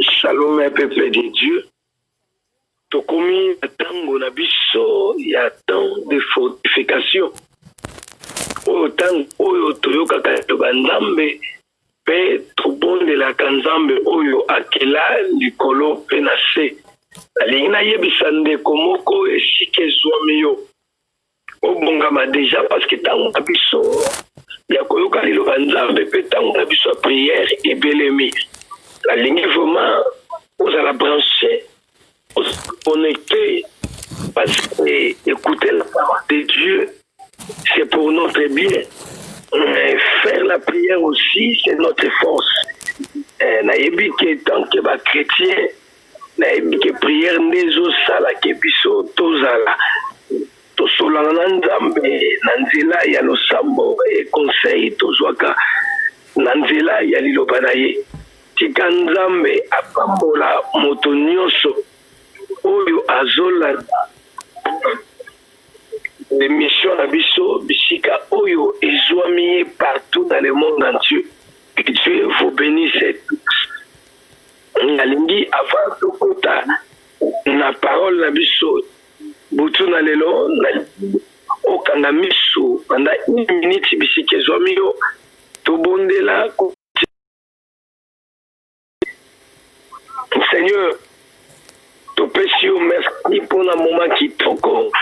Shalom ya peuple de Dieu. Tokomi na tango na biso ya temps de fortification. Oyo tango oyo toyokaka ba Nzambe pe tobondelaka Nzambe oyo akela likolo pe na se. Nalingi nayebisa ndeko moko esika ezwami yo. obongama deja parce que ntango na biso ya koyoka liloba nzambe mpe ntango na biso ya prière ebelemi nalingi vraiment ozala branche connecte parce que écouter la parole de dieu c'est pour notre bien mais faire la prière aussi c'est notre force eh, nayebi que tant que bachrétien Nayebi ke prière nde ezo sala ke biso tozala tosolana na Nzambe na nzela ya losambo et conseil tozwaka na nzela ya liloba na ye. Tika Nzambe apambola moto nionso oyo azolanda emission na biso bisika oyo ezwami ye partout dans le monde entier. Que Dieu vous benisse tous. nalingi avant tokota na parole na biso butu na lelo okanga misu banda une minute bisika ezwami yo tobondela seigneur topesi yo merci mpo na moma kitoko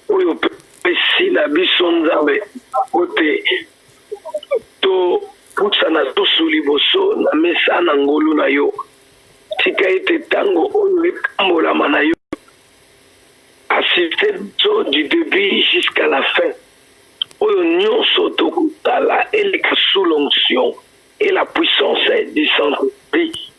oyo opesi na biso nzambe ote Topusana susu liboso na mesa na ngolu na yo. Tika ete tango oyo epambolama na yo. Assiste biso du debut jusqu'à la fin. Oyo nionso tokosala eleka sous l'onction et la puissance du Saint-Esprit.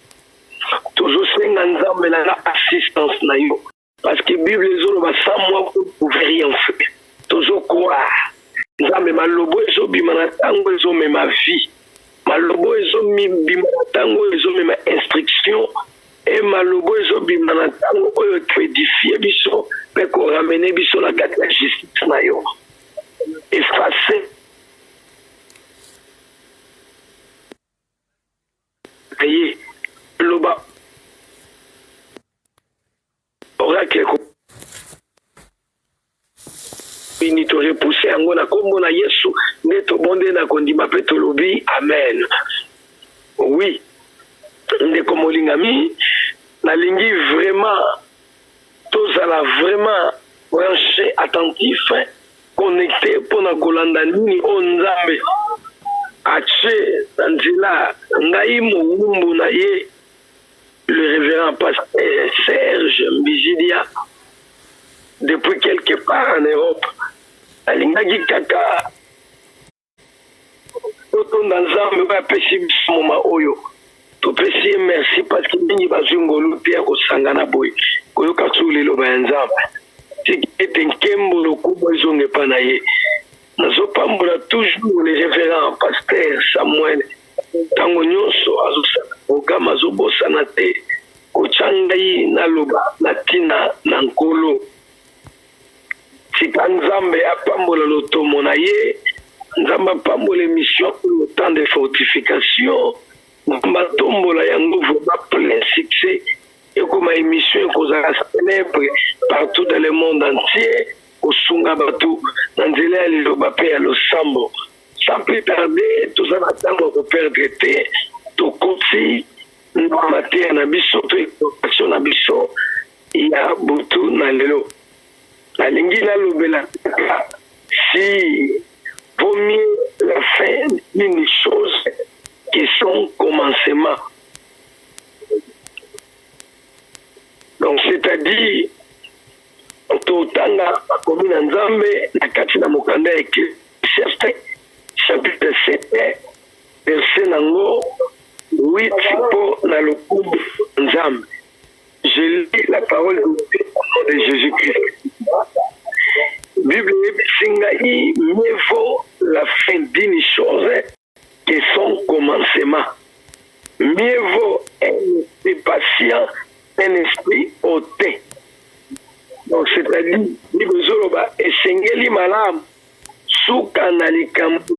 Tozosenga Nzambe na assistance na yo. parce que bible ezoloba sans moi vous ne pouvez rien faire tozo croire nzambe malobo ezobima na ntango ezomema vie malobo ezobima na ntango oyo ezomema instruction e malobo ezobima na ntango oyo ekoedifie biso mpe koramene biso na kati ya justice na yo efase Na ye, loba oracle eko bini to repousser yango na kombo na Yesu nde tobondeli na kondima pe tolobi amen. Oui, ndeko molingami, nalingi vraiment Tozala vraiment branche, attentif, connecte pona kolanda nini oyo Nzambe atie na nzela ngai mowumbu na ye le reverend pasteur Serge Mbizidia depuis quelque part en Europe nalingaki kaka Totonda Nzambe oyo apesi biso moma oyo topesi ye merci parce que mingi bazwi ngolu te ya kosangana boye koyoka suu liloba ya Nzambe tiki ete nkembo lokumu ezonga epa na ye nazopambola toujours le révérend pasteur Samuel ntango nyonso azosala programe azobosana te kotya ngai naloba na ntina na nkolo Tika Nzambe apambola lotomo na ye. Nzambe apambola emission oyo temps de fortification. Nzambe atombola yango vraiment plein succès. Ekoma emission ekozala célèbre partout dans le monde entier. Kosunga bato na nzela ya liloba pe ya losambo. Sans plus tarder, toza na tango ya ko perdre te. Tokoti na mateya na biso to information na biso ya butu na lelo nalingi nalobela kaka si vaut mieux la fin d'une chose que son commencement donc c'est-à-dire totanga makomi na nzambe na kati na mokanda ya ecclesiaste chapitre 7 Verse na ngo 8 po na lokumu Nzambe je lis la parole de Dieu au nom de Jesus Christ Bible eyebisi ngai mieux vaut la fin d'une chose que son commencement mieux vaut un esprit patient un esprit hautain donc c'est-à-dire likozoloba esengeli malamu suka na likambo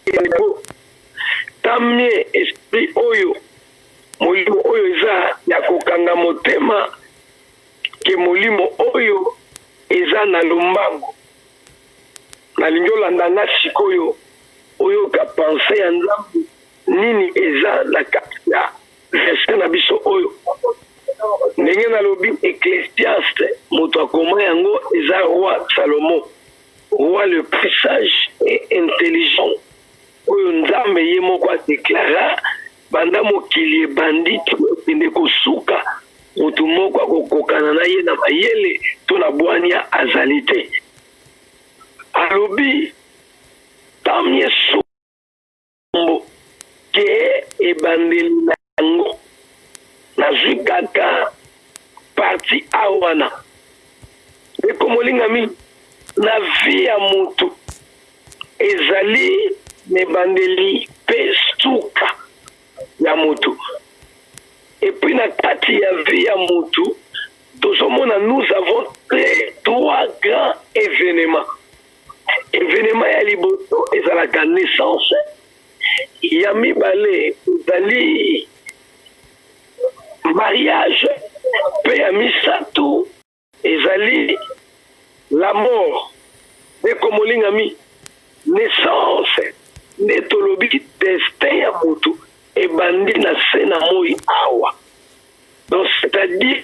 Ego, tamie esprit oyo molimo oyo eza ya kokanga motema ke molimo oyo eza na lombango nalingi olanda nga sikoyo oyoka pense ya nzambe nini eza na kati ya verse na biso oyo ndenge nalobi ecclesiaste moto akoma yango eza roi salomo Roi le plus sage et intelligent oyo Nzambe ye moko a declara banda mokili ebandi ekende kosuka, moto moko akokokana na ye na mayele to na bwania azali te. Alobi, Tant mieux makambo te ebandeli na yango nazwi kaka parti a wana ndeko molingami na vi ya motu ezali na ebandeli mpe suka ya motu epuis na kati ya vi ya motu tozomona nous avons tres trois grand evenement evenema ya liboso ezalaka naissance ya mibale ezali mariage mpe ya misato ezali la mort ndeko molingami naissance nde tolobi destin ya motu ebandi na se na moi awa donc c'est-à-dire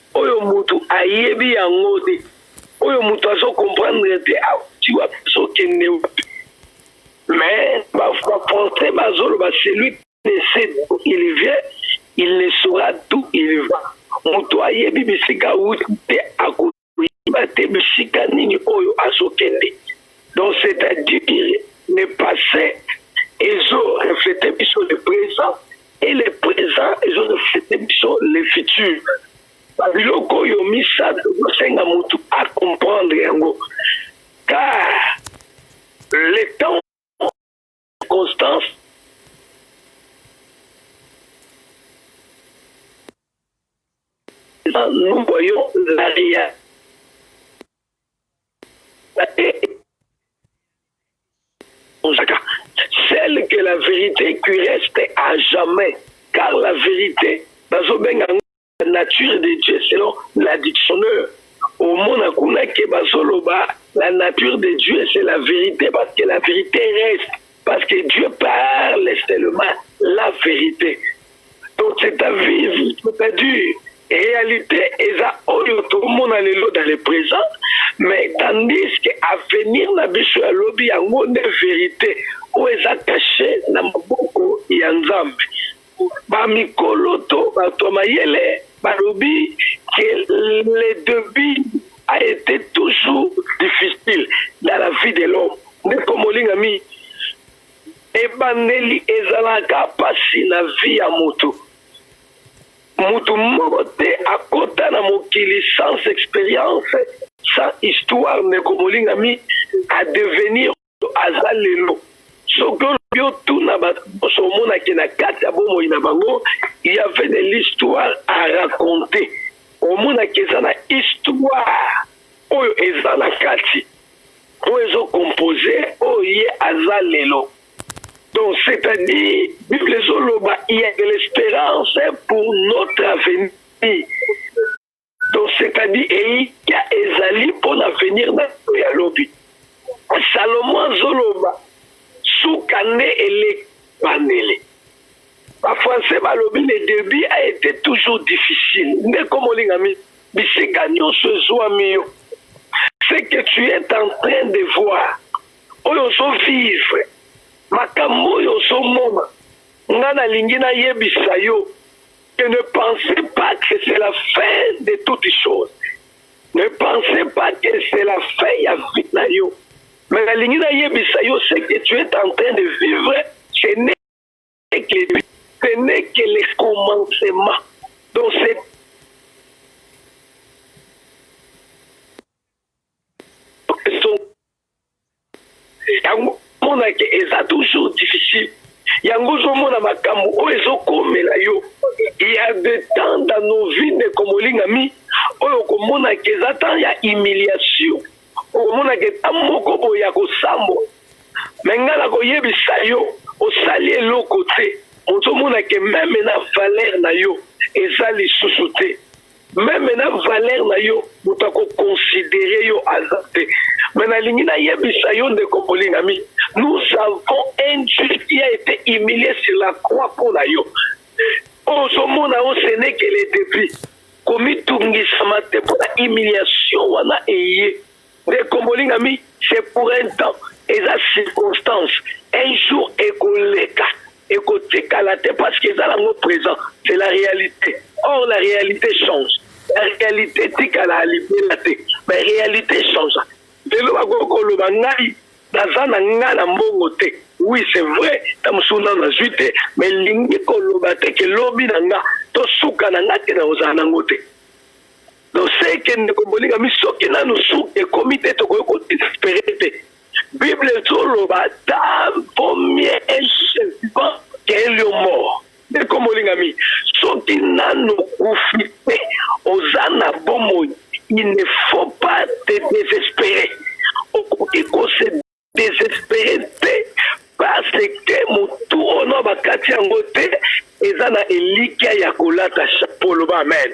Oyo mutu ayebi yango te. Oyo mutu azo comprendre te auti wapi azo kende wapi. Mais ba français bazoloba celui qui ne sait d'où il vient il ne saura d'où il va. Mutu ayebi bisika auti te ako yeba te bisika nini oyo azo kende. Donc c'est à dire le passe ezo refleter biso le present et le présent ezo reflete biso le futur biloko oyo misato kosenga motu a comprendre yango car le temps constance nous voyons la réalité Bozaka seul que la verite qui reste à jamais car la verite bazo benga yango la nature de Dieu selon la dictioneur omona kuna que bazo loba la nature de Dieu c'est la verite parce que la verite reste parce que Dieu parle seulement la verite Donc c'est à vivre, c'est à dire réalité eza oyo tomona lelo dans le présent mais tandis que avenir na biso ya lobi yango nde verité oyo eza cache na maboko ya nzambe bamikolo to bato ya mayele balobi que le debut a été toujours difficile dans la vie de l'homme ndeko molingami Ebandeli ezalaka pasi na vie ya mutu, mutu moko te akota na mokili sans experience, sans histoire, ndeko molingami a devenir oyo aza lelo, soki olobi otuna batu nionso omona ke na kati ya bomoi na bango il y avait de l'histoire a raconter, omona ke eza na histoire oyo eza na kati. oyo ezo compose oyo ye aza lelo donc c'est à dire bible ezoloba il ya de l'espérance pour notre avenir donc c'est à dire elikya ezali mpo na avenir na ya lobi salomo azoloba suka nde eleki bandele Ba français balobi le debut a ete toujours difficile ndeko molingami bisika nionso ezuami yo ce que tu es en train de voir oyo ozo vivre makambo oyo ozo mona nga nalingi na yebisa yo que ne pense pas que c'est la fin de toute chose ne pense pas que c'est la fin ya vie na yo mais nalingi na yebisa yo ce que tu es en train de vivre ce n'est Ce n'est que le commencement. Donc c'est yango monake eza toujours difficile yango ozomona makambo oyo ezokomela yo ya de temps dans nos vies ndeko molingami oyo okomonaka eza temps ya humiliation okomonaka eta moko boye ya kosambwa me ngai nakoyebisa yo osali eloko te ozomona ke meme na valere na yo eza lisusu te meme na valere na yo moto akokonsidere yo aza te me nalingi nayebisa yo ndeko molingami nous avons un dieu qui a été humilié sur la croix mpo na yo ozomona yo senekele depuis komitungisama te mpo na humiliation wana eye ndeko molingami c'est pour un temps eza circonstance un jour ekoleka ekotikala te parce que eza nango présent c'est la réalité or la réalité change la réalité etikala libela te mais réalité change lelo bakoki koloba ngai Baza na nga na mbongo te. Oui c'est vrai tango mosusu nanu nazui te mais elingi koloba te ke lobi na nga to suka na nga te nakozala na ngo te donc seke ndeko bolingami soki nanu su ekomi te tokoki koespere te bible ezoloba ta vaut mieux un vivant qu'un lion mort Ndeko molingami, soki nanu okufi te, oza na bomoi, il ne faut pas te desesperer. Okoki ko se desesperer te parce que mutu oyo nao bakati yango te eza na elikia ya kolata chapeau. Loba amen.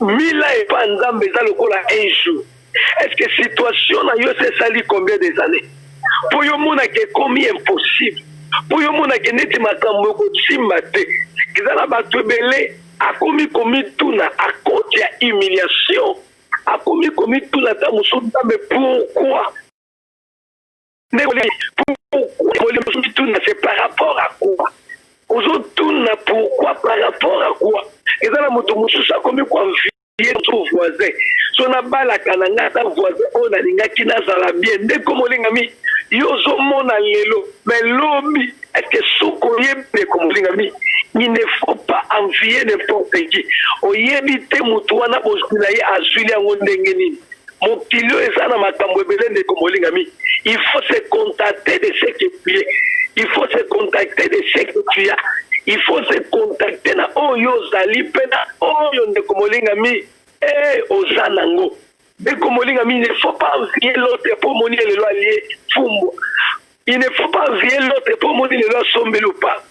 Mila epa nzambe eza lokola un jour est ce que situation na yo se sali combien des années po yo mona ke ekomi impossible po yo mona ke neti makambo ekosimba te eza na bato ebele akomi komituna à cause ya humiliation akomi komituna ata mosusu nzambe pourquoi ndeko nini pourquoi ozo mituna c'est par rapport à quoi ozo tuna pourquoi par rapport à quoi eza na moto mosusu akomi koenvie to voisin so nabalaka na ngai ata voisin oyo nalingaki nazala bien ndeko molingami yo ozomona lelo mais lobi eke soki oyebi ndeko molingami il ne faut pas envier n'importe qui oyebi te moto wana bozwi na ye azwili yango ndenge nini Mokili oyo eza na makambo ebele ndeko molingami. Il faut se contacter de ce que tu es. Il faut se contacter de ce que tu as. Il faut se contacter na oyo ozali mpe na oyo ndeko molingami eh, oza nango ndeko molingami ne faut pas vie l'autre mpo omoni ye lelo alie fumbu il ne faut pas envier l'autre mpo omoni lelo asombeli ou pas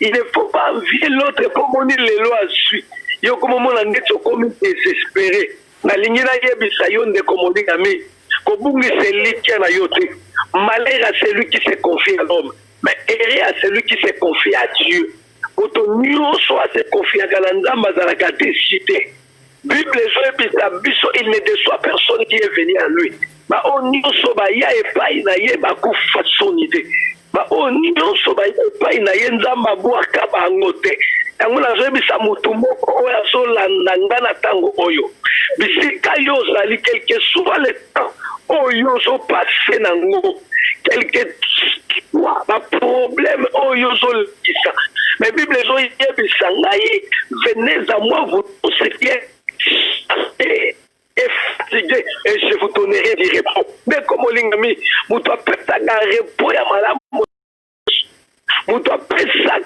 il ne faut pas envier l'autre mpo omoni lelo azwi yo okomomona ndeti okomi desespere nalingi nayebisa yo ndeko molingami kobungisa elikya na yo te malheur à celui qui se confie à l'homme mais ere à celui qui se confie à dieu moto nyonso asekonfiaka na nzambe azalaka deside Bible ezoyebisa biso il ne deçoit personne qui est venu à lui. Ba oyo nyonso baya epai na ye bakufa soni te. Ba oyo nyonso baya epai na ye Nzambe abwaka bango te. Yango nazoyebisa motu moko oyo azolanda nga na ntango oyo, bisika yo ozali quelque soit le oyo ozopase na ngo quelque soit baproblème oyo ozolekisa mais bible ezoyebisa ngai venez à moi vous tous ce qui est fatigué et je vous donnerai du repos ndeko molingami moto apesaka repos ya malamu moto apesa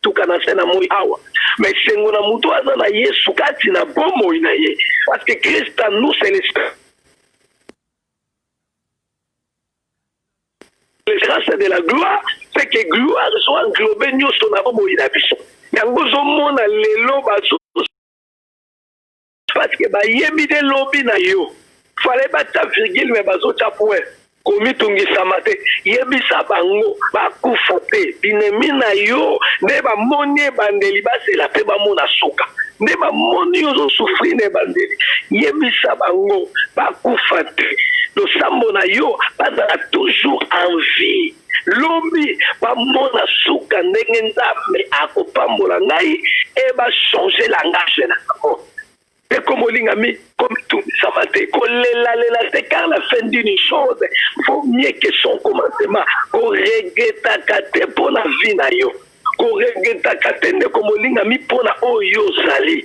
tuka na se na moi awa me esengo na moto aza na yesu kati na bomoi na ye parce que christ a nous c'est l'esprit Le grace de la gloire c'est que gloire ezo englober nyoso na bomoi na biso, yango ozomona lelo bazo parce que bayebi de lobi na yo fallait batia virgule mais bazotia point komitungisama te yebisa bango bakufa te binemi na yo nde bamoni ebandeli bazela mpe bamona suka nde bamoni yo ozosufri na ebandeli yebisa bango bakufa te losambo na yo bazala toujours en vie lobi bamona suka ndenge nzambe akopambola ngai e bachange langage na yango ndeko molingami komitungisama te kolelalela te car la fin d'une chose vaut mieux que son commencement koregretaka te mpo na vie na yo koregretaka te ndeko molingami mpo na oyo ozali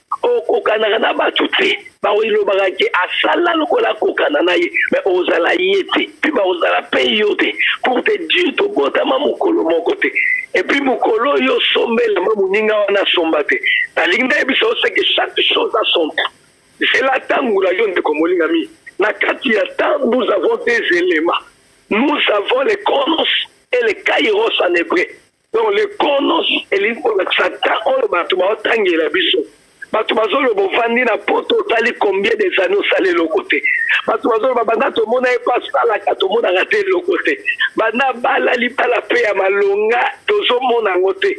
okokanaka na bato te baoilobaka ke asala lokola akokana na ye me ozala ye te mpe bakozala mpe yo te pour te dire tobotama mokolo moko te epuis mokolo oyo osombelama moninga wana asomba te nalingi ndayebisa oseke chaque chose a son temps zela ntango na yo ndeko molingami na kati ya temps nous avons des éléments nous avons les chronos et les kairos en hébreu donc le konos elingi kolakisa ta oyo bato baotangela biso bato bazoloba ovandi na poto otali combien des années osala eloko te bato bazoloba banda tomona ye mpo asalaka tomonaka te eloko te banda bala libala mpe ya malonga tozomona yango te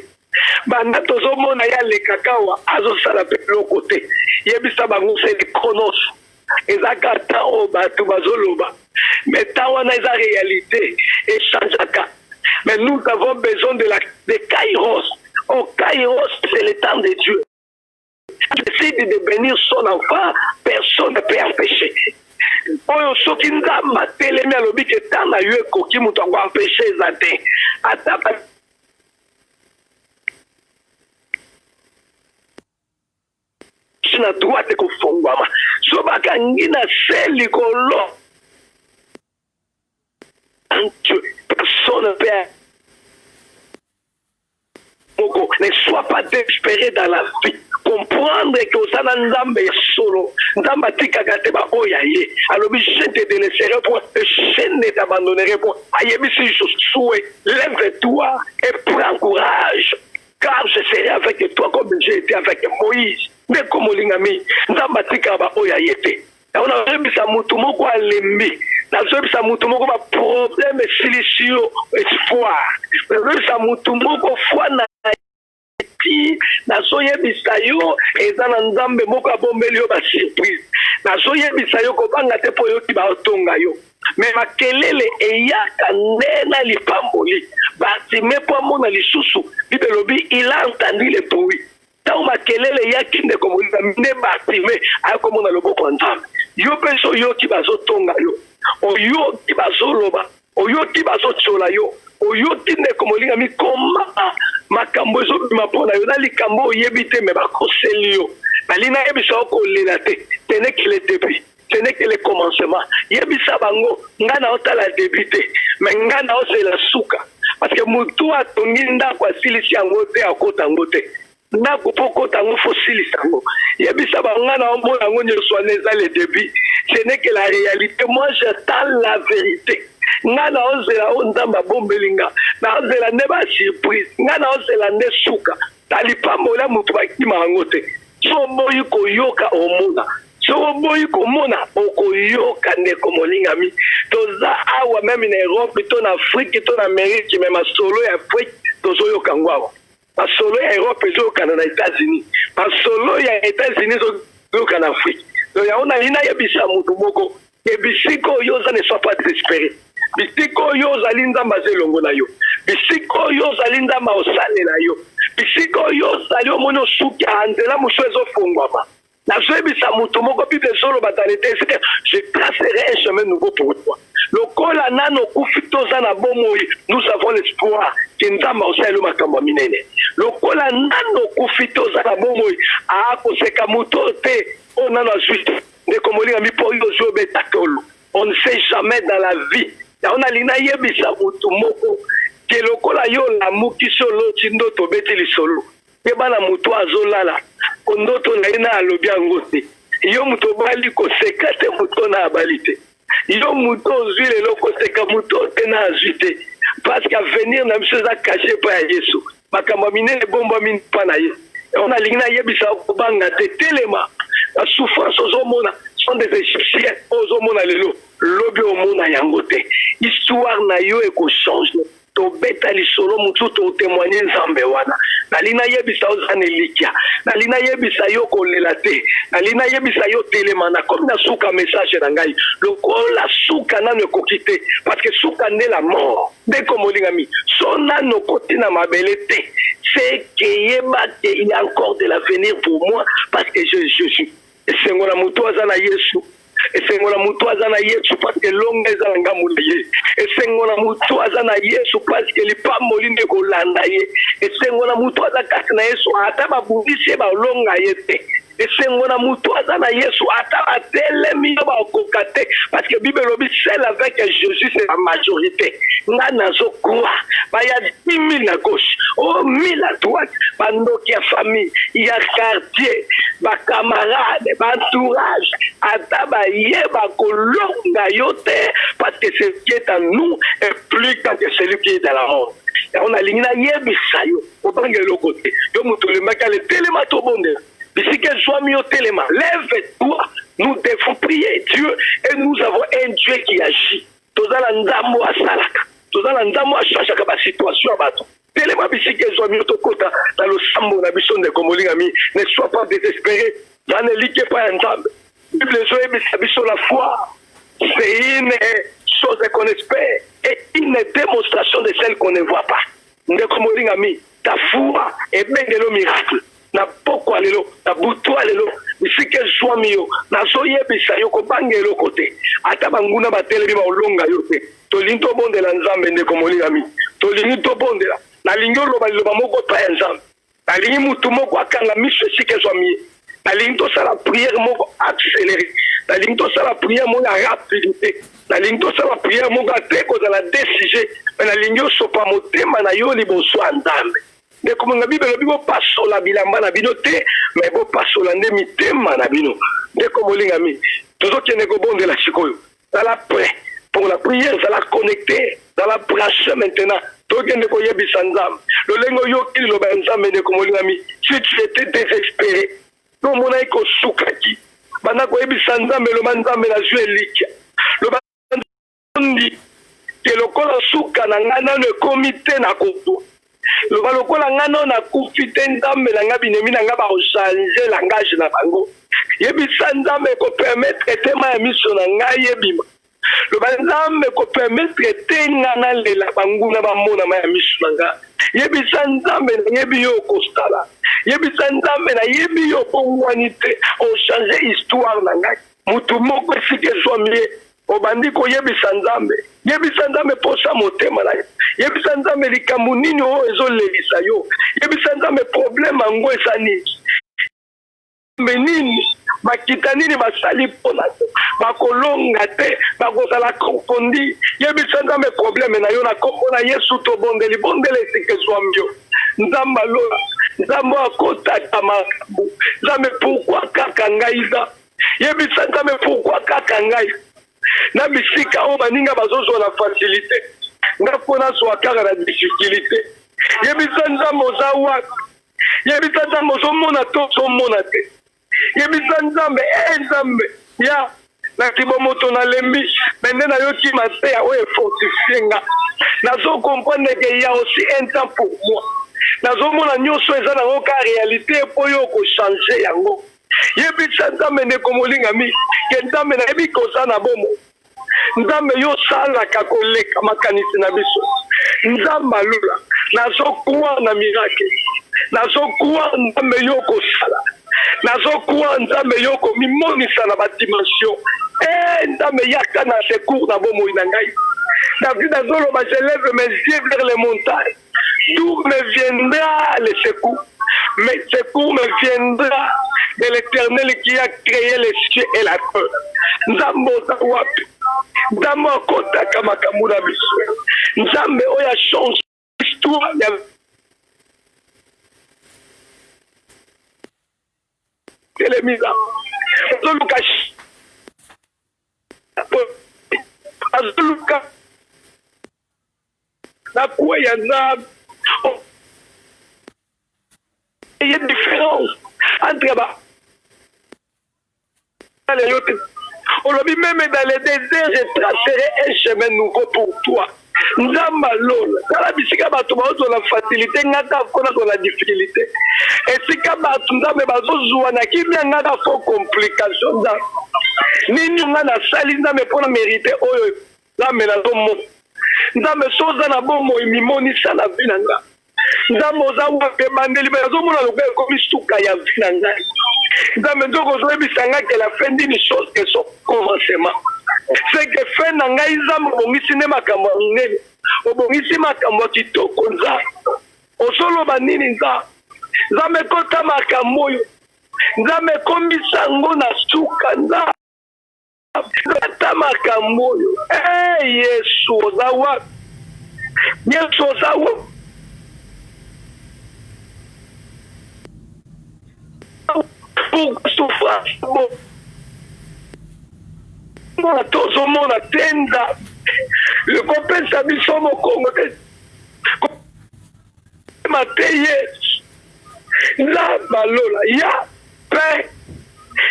banda tozomona ye alekaka awa azosala mpe eloko te yebisa bango seli konos ezalaka temps oyo bato bazoloba mais temps wana eza réalité echangeaka mais nous avons besoin de, la, de kairos o oh, kairos c'est le temps de dieu décide de bénir son enfant personne ne peut empêcher oyo soki nzambe atelemi alobi ke temps na yo ekoki moto yango empêche eza te ata gauche na droite ekofongwama so bakangi na se likolo personne mpe moko ne soit pas despere dans la vie comprendre ke oza na nzambe ya solo nzambe atikaka te baoyo ya ye alobi je te delaisserai po je ne t'abandonnerai po ayebisi josue lève toi et prends courage car je serai avec toi comme j'ai été avec Moïse. Ndeko molingami, Nzambe atikaka baoyo ya ye te. Yango nazoyebisa motu moko alembi, nazoyebisa motu moko baproblème esilisi yo espoir, nazoyebisa motu moko foi na ti nazoyebisa yo eza na nzambe moko abombeli yo basurprise nazoyebisa yo kobanga te mpo oyoki baotonga yo me makelele eyaka nde na lipamboli bartime mpo amona lisusu bible elobi il a entendu le bruit ntango makelele eyaki ndeko molinga nde bartime akomona loboko ya nzambe yo mpe so oyoki bazotonga yo oyoki bazoloba oyoki bazotyola yo oyoki ndeko molinga mikoma makambo ezobima mpo na yo na likambo oyebi te me bakoseli yo bali nayebisa yo kolela te tenekele depuis ce n'est que le commencement yebisa bango nga naotala début te mais nga naozela suka parce que motu atongi ndako asilisi yango te akota yango te ndako mpo okota yango fo osilisa yango yebisa bango nga naomona yango nyonso wana eza le début ce n'est que la réalité moi j'attends la vérité nga naozela oyo nzambe abombeli nga naozela nde basurprise nga naozela nde suka na lipamboli ya moto bakima yango te so oboyi koyoka omona soki oboyi komona okoyoka ndeko molingami toza awa meme na europe to na afrike to na amerike me masolo ya afrike tozoyoka yango awa masolo ya europe ezoyokana na etats-unis masolo ya etats-unis ezoyoka na afrike to yango nalinayebisa moto moko e bisika oyo oza ne sois pas desespere bisika oyo ozali nzambe aza elongo na yo bisika oyo ozali nzambe aosalela yo bisika oyo ozali omoni osuki a nzela mosusu ezofungwama nazoyebisa moto moko bible ezoloba dans les texte je tracerai un chemin nouveau pour toi lokola nano okufi toza na bomoi nous avons l'espoir ke nzambe aosalelo makambo ya minene lokola nano okufi toza na bomoi aakoseka moto te oyo nano azwi ndeko molinga mi mpo yo ozwi obeta tolo on ne sait jamais dans la vie yango nalingi nayebisa motu moko ke lokola yo olamuki so oloti ndoto obeti lisolo yeba na motu azolala ko ndoto na ye na alobi yango te yo moto obali koseka te moto na abali te yo moto ozwi lelo koseka moto te na azwi te parceke avenir na biso eza kashe epai ya yesu makambo ya minene ebombami mpa na ye yango nalingi nayebisa kobanga te telema na souffrance ozomona sont des égyptiens oyo ozomona lelo lobi omona yango te histoire na yo ekochange tobeta lisolo mosusu totemoigne nzambe wana nali nayebisa yo zana elikya nali nayebisa yo kolela te nali nayebisa yo telema nakomi na suka message na ngai lokola suka nano ekoki te parceke suka nde la mort ndeko molingami so nano koti na mabele te se keyeba ke il y a encore de l'avenir pour moi parce que je, je, je Esengo na moto aza na Yesu. Esengo na moto aza na Yesu parce que longa eza na ngambo na ye. Esengo na moto aza na Yesu parce que lipamboli nde kolanda ye. Esengo na moto aza kati na Yesu ata babundisi ye balonga ye te. esengo na moto aza na yesu ata batelemi yo bakoka te parce que bible elobi seul avec jésus c'est la majorité nga nazo croire baya 10 000 à gauche o 1000 à droite bandoki ya famille ya quartier ba camarade ba entourage ata baye bakolonga yo te parce que ce qui est à nous est plus grand que celui qui est dans la monde yango nalingi nayebisa yo obanga eloko te yo moto olembaki ale telema tobondela bisika ezwami yo telema lève toi nous devons prier dieu et nous avons un dieu qui agit toza na nzambo asalaka toza na nzambo achangaka basituation ya bato telema bisika ezwami yo tokota na losambo na biso ndeko molingami ne sois pas désespéré za na eliki epai ya nzambe bible ezoyebisa biso la foi c'est une chose qu'on espère et une démonstration de celle qu'on ne voit pas ndeko molingami ta foi ebengelo miracle na pokwa lelo na butwa lelo bisika ezwami yo nazoyebisa yo kobanga eloko te ata banguna batelemi baolonga yo te tolingi tobondela nzambe ndeko molingami tolingi tobondela nalingi oloba liloba moko epai ya nzambe nalingi motu moko akanga miso esika ezwami ye nalingi tosala priere moko accéléré nalingi tosala priere moko ya rapidité nalingi tosala priere moko ate kozala desige me nalingi osopa motema na yo liboso ya nzambe ndeko manga bible elobi bopasola bilamba na bino te me bopasola nde mitema na bino ndeko molingami tozokende kobondela sikoyo zala prêt pour la prière zala connecté zala branche maintenant tokende koyebisa nzambe lolenge oyoki liloba ya nzambe ndeko molingami si tu étais désespéré tomonaki kosukaki banda koyebisa nzambe loba nzambe nazwi elikia Otondi te lokola suka na ngai nano ekomi te na kopo loba lokola ngai nano nakufi te nzambe na ngai binemi na ngai bakochange langage na bango yebisa nzambe ekopermetre te mai ya miso na ngai ebima loba nzambe ekopermetre te ngai nalela banguna bamona mai ya miso na ngai yebisa nzambe nayebi yo okosala yebisa nzambe nayebi yo obongwani te ochange histoire na ngai motu moko esika ezwami ye Obandi koyebisa Nzambe. Yebisa Nzambe mposa motema na yo. Yebisa Nzambe likambo nini oyo ezolelisa yo. Yebisa Nzambe probleme yango eza nini. Nzambe nini bakita nini basali mpo na yo bakolonga te bakozala kondi yebisa nzambe probleme na yo na nkombo na yesu tobondeli bondela esika ezwami yo nzambe alola nzambe akotaka makambo nzambe pourkui kaka ngai nzambe yebisa nzambe pourkui kaka ngai na bisika oyo baninga bazozwa na facilité nga mpo nazwa kaka na difficulté yebisa nzambe oza wapi yebisa nzambe ozomona to ozomona te yebisa nzambe e eh, nzambe ya na kibomoto nalembi me nde nayoki mateya oyo efortifie nga nazokomprendre ke ya aussi un temps pour moi nazomona nyonso eza nango ka réalité mpo yo okochange yango yebisa nzambe ndeko molingami ke nzambe nayebi koza na bomo nzambe yo osalaka koleka makanisi na biso nzambe alula nazokwa na mirake nazokwa nzambe yo okosala nazokwa nzambe yo okomimonisa na badimension e eh, nzambe yaka na secour na bomoi na ngai david azoloba je lève mes yeux vers les montagnes D'où me viendra le secours Mais secours me viendra de l'éternel qui a créé les cieux et la terre. Nzambe oza wapi? Nzambe akotaka makambo na biso. Nzambe oyo achange histoire ya telemisa azoluka azoluka Na kue ya nzambe oh. Eye difference entre ba ale yo te olobi meme dans le désert je tracerai un chemin nouveau pour toi nzamba lola tala bisika bato baozwa facilité nga ta kona kozwa difficulté esika bato nzambe bazozwa na kimia nga ta fo complication nzambe nini nga nasali nzambe mpo na mérite oyo nzambe nazomona nzambe soza na bomoi mimonisa na vi na nga nzambe oza wapi ebandeli me nazomona lokola ekomi suka ya vi na ngai nzambe nzoka ozoyebisa ngai ke la fin dini chose ke so commencement seke fin na ngai nzambe obongisi nde makambo ya monene obongisi makambo ya kitoko nza ozoloba nini nza nzambe ekota makambo oyo nzambe ekomisango na suka nza ata makambo oyo e yesu oza wapi yesu oza wapi souffrance mona tozomona te nzambe ekopesa biso mokongo te ma te yesu nzamba lola ya pe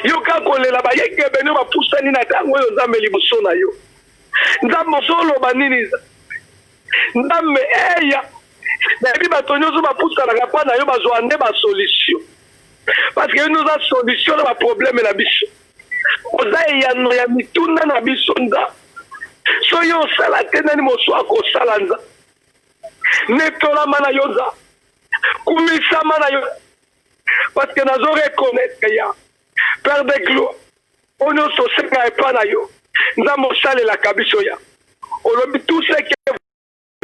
yoka kolela bayekebe nio bapusani na ntango oyo nzambe liboso na yo nzambe ozoloba nini nzambe eya nayebi bato nyonso bapusanaka mpa na yo bazwa nde basolution parceke yo nde oza solution na baprobleme na biso oza eyano ya mituna na biso nzambe soki osala te nani mosu akosala nzambe netolama na yo nza kumisama na yo parce que nazo reconnaître ya père de gloire oyo nyonso osenga epa na yo nzambe osalelaka biso ya olobi tout ce que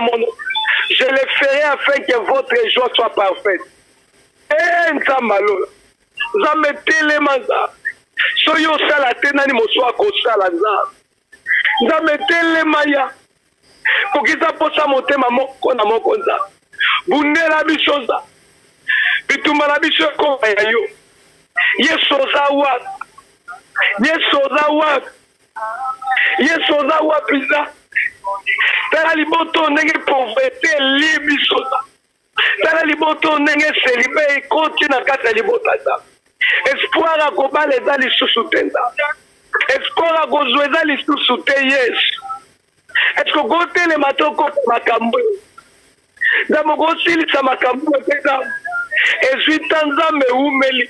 mono je le ferai afin que votre joie soit parfaite e eh, nzambe alola nzambe telema nzambe soki osala te nani mosusu akosala nzambe Nzambe telema ya kokisa posa motema moko na moko nza bundela biso nza bitumba na biso ekoma ya yo yesu oza wapi yesu oza wapi yesu oza wapi nza tala liboto ndenge pauvreté elie biso nza tala liboto ndenge selibe ekoti na kati ya libota eza espoir ya kobala eza lisusu te nza espoir ya kozwa eza lisusu te yesu eske okotelema to okota makambo nzambe okosilisa makambo mpenza ezwi ta nzambe ewumeli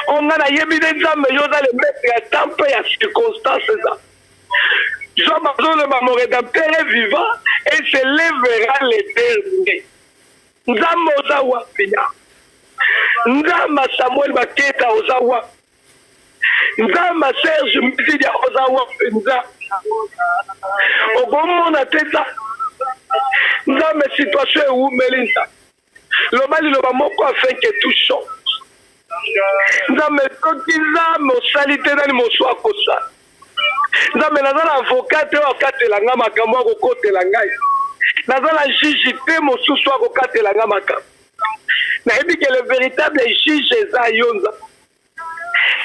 Oyo nga na yebi nde Nzambe yo oza le maître ya temps mpe ya circonstance eza. Job azoloba mon redempteur est vivant et se levera le dernier. Nzambe oza wapi ya? Nzambe Samuel Baketa oza wapi? Nzambe Serge Mbizidia oza wapi Nzambe? Okomona te Nzambe. Nzambe situation ewumeli Nzambe. Loba liloba moko afin que tout chante. Nzambe soki za mosali te nani mosu akosa. Nzambe naza na avocat te oyo akatela ngai makambo akokotela ngai. Naza na juge te mosusu akokatela ngai makambo. Nayebi ke le véritable juge eza yo Nzambe.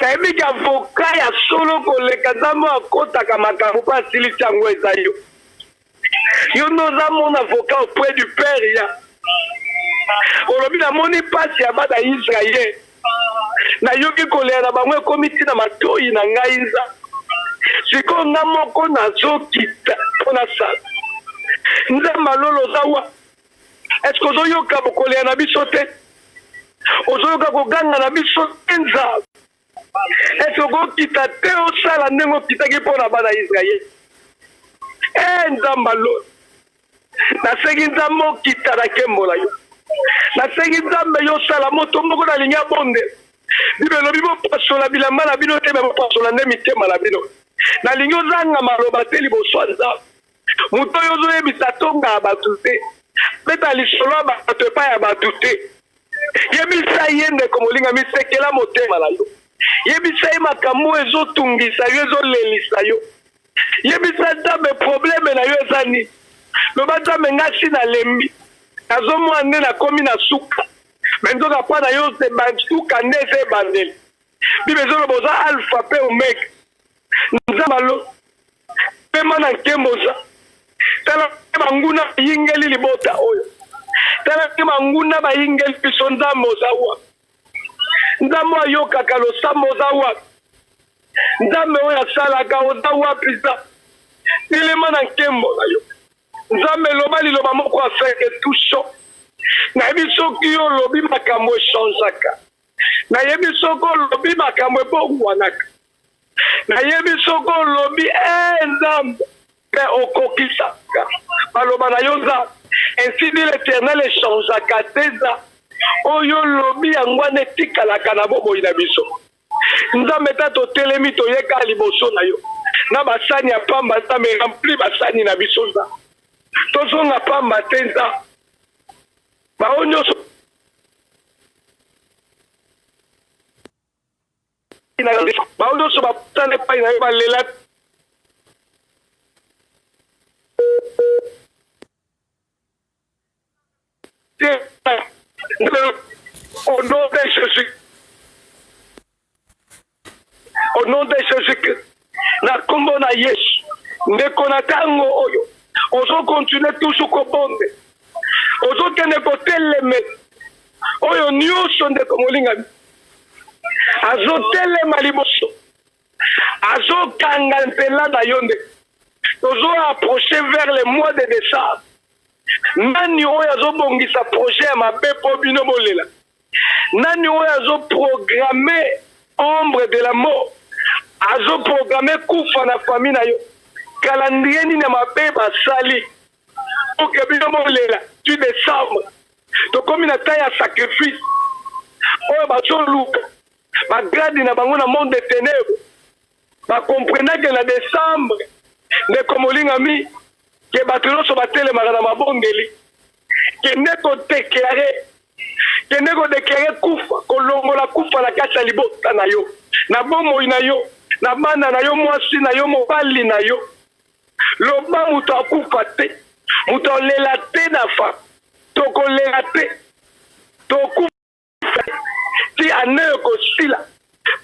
Nayebi ke avocat ya solo koleka Nzambe oyo akotaka makambo mpe asilisi yango eza yo. yo nde oza mon avocat auprès du père ya olobi namoni mpasi ya bana ya israel nayoki kolela na bango ekomi ti na matoyi na ngai nza sikoyo nga moko nazokita mpo nasala nzambe alolo oza wa eske ozoyoka kolela na biso te ozoyoka koganga na biso te nzambe Esi okokita te osala ndenge okitaki mpo na bana Israel. E Nzambe alo, nasengi Nzambe okita na kembo na yo. Nasengi Nzambe yo osala moto moko nalingi abonde. Biblia elobi bopasola bilamba na bino te, me bopasola nde mitema na bino. Nalingi ozanga maloba te liboso ya Nzambe. moto oyo ozoyebisa tonga ya bato te beta lisolo ya bato epai ya bato te yebisa ye ndeko molinga misekela motema na yo yebisa ye makambo oyo ezotungisa yo ezolelisa yo yebisa nzambe probleme na yo eza nini loba nzambe ngasi nalembi nazomona nde nakomi na suka me nzoka mpo na yo suka nde eza ebandeli bibe ezoloba oza alpha mpe omega nzambe alo pema na nkembo oza tala te banguna bayingeli libota oyo tala te banguna bayingeli biso nzambe oza wapi nzambe ayokaka losambo oza wapi nzambe oyo asalaka oza wapi za telema na nkembo na yo nzambe eloba liloba moko afeke tuso nayebi soki yo olobi makambo echangeaka nayebi soki olobi makambo ebongwanaka nayebi soki olobi ee eh, nzambe mpe okokisaka maloba na yo nzambe ainsi dit l'éternel echangeaka te eza oyo olobi yango wana etikalaka na bomoi na biso nzambe ta totelemi toyeka liboso na yo na basani ya pamba nzambe rempli basani na biso nzambe tozonga pamba te nzambe baoyo nyonso bango nyonso bapusana epai na yo balela te au nom de jésus Au nom de Jésus-Christ, na kombo na Yesu, ndeko na tango oyo ozo continuer toujours kobombe, ozokende koteleme oyo nyonso ndeko molingami azotelema liboso azokanga nzela na yo nde tozo approche vers le mois de décembre Nani oyo azobongisa projet ya mabe mpo bino bolela? Nani oyo azoprograme ombre de la mort, azoprograme kufa na fami na yo? Kalandrie nini ya mabe basali oke bino bolela? Tu desembre tokomi na ta ya sacrifice oyo bazoluka bagrade na bango na monde de tenebre ba comprenake na decembre ndeko molingami ke bato nyonso batelemaka na mabondeli kende kodeklare kende kodeklare kufa kolongola kufa na kati ya libota na yo na bomoi na yo na bana na yo mwasi na yo mobali na yo loba moto akufa te moto alela te nafa tokolela te tokufa ti ane ekosila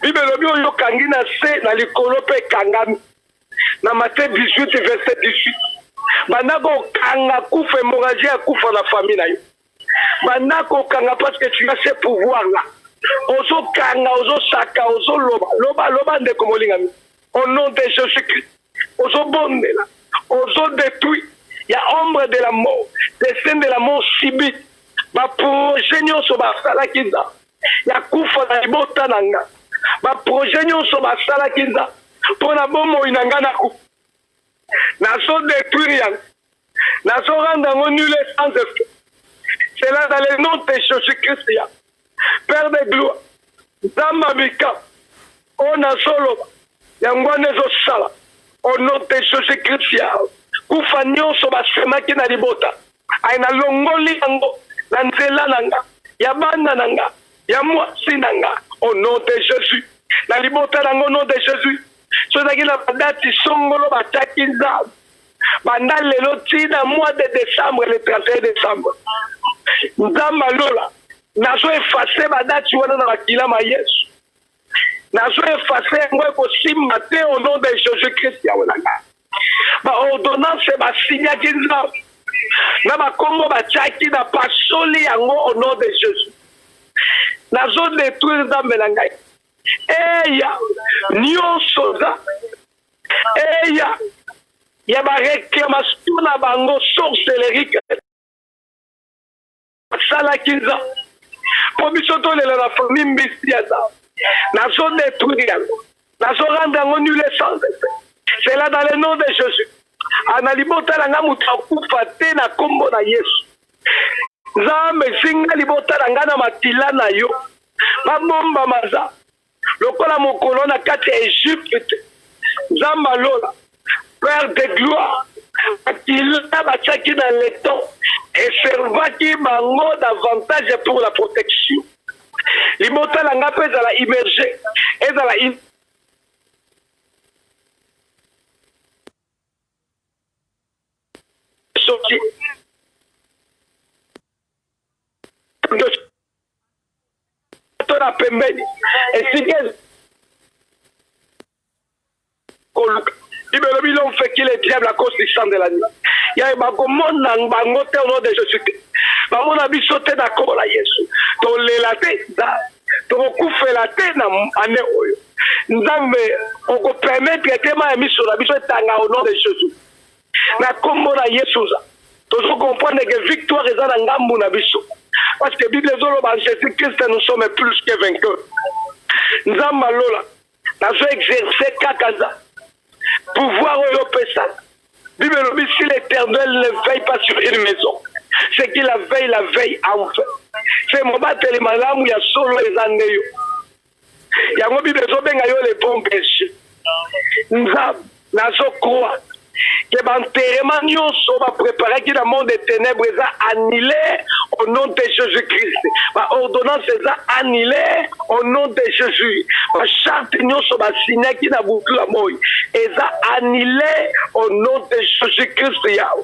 bible elobi oyo okangi na se na likolo mpe ekangami na mate 18 verse 18 banda kokanga kufa hémorragie ya kufa na famille na yo banda kokanga parce que tu as ce pouvoir là ozokanga ozosaka ozoloba loba loba ndeko molingami Au nom de Jesus Christ, ozo bondela, ozo detruit ya ombre de la mort, destin de la mort subit, ba projet nionso ba salaki za ya kufa na libota na nga, ba projet nionso ba salaki za pona bomoi na nga na kufa. nazo détruire yango nazo rendre yango nul et sans effet cela dans le nom de jésus christ ya père de gloire nzambe ya mikama oyo nazoloba yango wana ezosala au nom de jésus christ ya kufa nyonso basemaki na libota aye nalongoli yango na nzela na nga ya bana na nga ya mwasi na nga au nom de Jésus na libota na ngo nom de Jésus so ezalaki na badati songolo bataki nzambe banda lelo ti na mois de décembre le 31 décembre nzambe alola nazo efase badati wana na makila ma yesu nazo efase yango ekosimba te au nom de jésus christ ya olanga baordonnance basignaki nza na bakongo batiaki na pasoli yango au nom de jésus nazo détruire nzambe na ngai eya nyonso oza eya ya baréclamation na bango sorcelerique asalaki nza mpo biso tolela na famille mbisi ya za nazo detruire yango nazo rendre yango nul essence cela dans le nom de jésus ana libota na ngai moto akufa te na nkombo na yesu nzambe zinga libota na ngai na makila na yo babomba maza Lokola mokolo na kati ya Egypte, Nzambe ya lola, Père de gloire, makila batiaki na leton eservaki bango davantage pour la protection. Libota na ngai mpe ezala immerge, ezala soki to na pembeni esika koluka bibelo bilo mfekile diable akosi sandela nini yaye bakomona bango te ono de jesus te bamona biso te na nkombo na yesu tolela te tokokufela te na ane oyo nzambe okopermetre te ma ya miso na biso etanga ono de jesus na kombo na yesu tozo comprendre que victoire eza na ngambu na biso parce que bible ezoloba jésus christ nous sommes plus que vainqueur nzamba lola nazo exerce kaka za pouvoir oyo opesa bible elobi si l'éternel ne veille pas sur une maison ce qui la veille la veille enfin se mobateli malamu ya solo eza nde yo yango bible ezobenga yo le bon berger nzambe nazokroa ke banterema nyonso bapreparaki na monde de ténèbre eza annule au nom de jésus christ baordonnance eza annule au nom de jésus bacharte nyonso basignaki na butu ya moi eza annule au nom de jésus christ yawe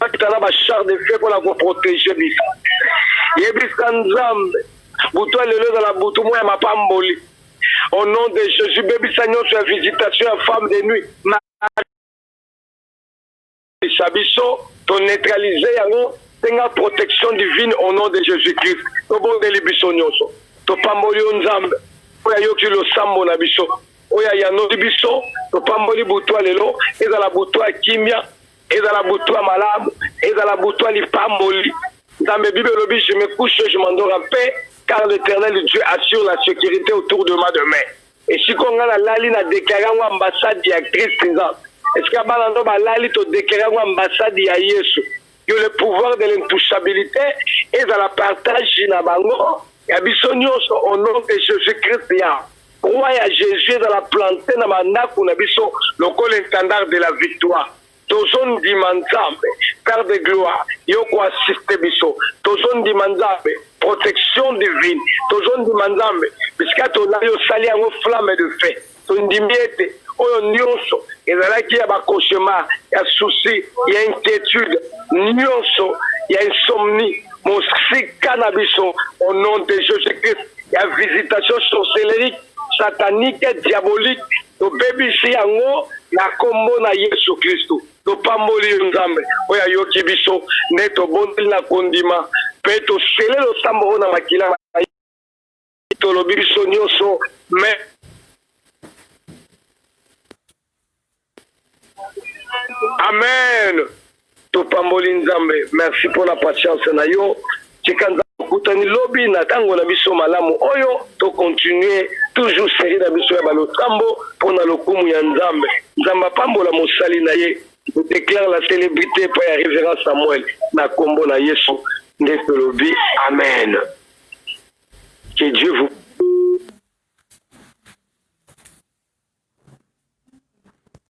batikala ba char de feu mpona koprotege biso yebisa nzambe butu ya lelo ezala butu mwa ya mapamboli au nom de jésus bebisa nyonso ya visitation ya femme de nuit sa biso toneutralize yango senga protection divine au nom de jésus christ tobondeli biso nyonso topamboli yo nzambe oyo ayoki losambo na biso Oyo ayanoli biso, topamboli butu ya lelo ezala butu ya kimia, ezala butu ya malamu, ezala butu ya lipamboli. Nzambe, Bible elobi, je me couche, je m'endors en paix, car l'Eternel Dieu assure la securite autour de ma demeure. Et sikoyo nga nalali na declare yango ambassade ya Christ nzambe. Esika bana no balali to declare yango ambassade ya Yesu. que le pouvoir de l'intouchabilité ezala partage na bango ya biso nyonso au nom de jésus christ ya roi ya jésus ezala plante na bandako na biso lokola intendard de la victoire tozondima nzambe père de gloire yo koassiste biso tozondima nzambe protection divine tozondima nzambe bisika tozali osali yango flamme de fait Tondimi ete oyo nyonso ezalaki ya ba cauchemars, ya soucis, ya inquietudes, nyonso ya insomnie, mosika na biso au nom de Jesus-Christ, ya visitation sorcelerique, satanique, diabolique, tobebisi yango na kombo na Yesu Klisto. Topamboli yo Nzambe oyo ayoki biso, nde tobondeli na kondima mpe tosele losambo oyo na makila tolobi biso nyonso me amen topamboli nzambe merci mpo na patience na yo tika nzambe okutani lobi na ntango na biso malamu oyo tokontinue toujours serie na biso ya balosambo mpo na lokumu ya nzambe nzambe apambola mosali na ye je déclare la célébrité epai ya révérend samuel na nkombo na yesu nde tolobi amen Que Dieu vous